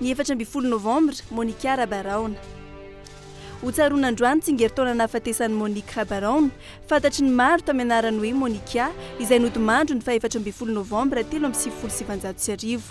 Ny efatra ambin'ny folo novambra, Monica Rabaraona. Hotsaroana androany tsingerintaona nahafatesan'i Monique Rabaraona, fantatry ny maro tamin'ny anarany hoe Monica, izay nodimandry ny faha efatra ambin'ny folo novambra telo amby sivifolo sy sivinjato sy arivo.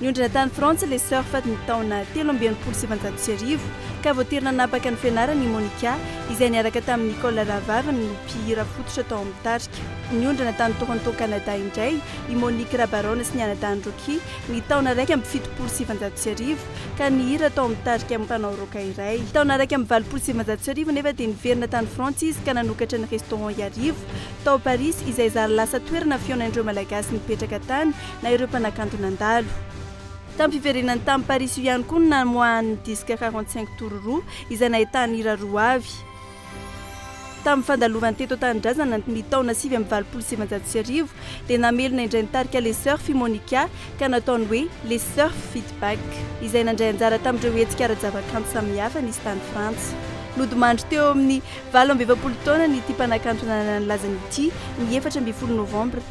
Niondrona tany Frantsa ilay Surf tamin'ny taona telo amby enimpolo sy sivinjato sy arivo, ka voatery nanapaka ny fianarany i Monica, izay niaraka tamin'i Nicole rahavaviny ho mpihira fototra tao amin'ny tarika. Niondrona tany Toronto, Canada, indray i Monique Rabaron sy ny anadahiny Rocky, ny taona iraika amby fitopolo sy sivinjato sy arivo, ka nihira tao amin'ny tarika mpanao rock iray. Taona iraika amby valopolo sy sivinjato sy arivo anefa dia niverina tany Frantsa izy ka nanokatra ny Restaurant Iarivo, tao Parisy, izay zary lasa toerana fihaonan'ireo Malagasy nipetraka tany, na ireo mpanakanto nandalo. Tam-piverenany tany Parisy io ihany koa no namoahany ny disque quarante cinq tours roa izay nahitany hira roa avy. Tamin'ny fandalovany teto an-tanindrazana ny taona sivy amby valopolo sy sivinjato sy arivo dia namelona indray ny tarika Les Surf i Monica ka nataony hoe Les Surf feat Back izay nandray anjara tamin'ireo hetsika ara-javakanto samihafa nisy tany Frantsa. Nodimandry teo amin'ny valo amby efapolo taonany ity mpanakanto nanana ny lazany ity ny efatra ambin'ny folo novambra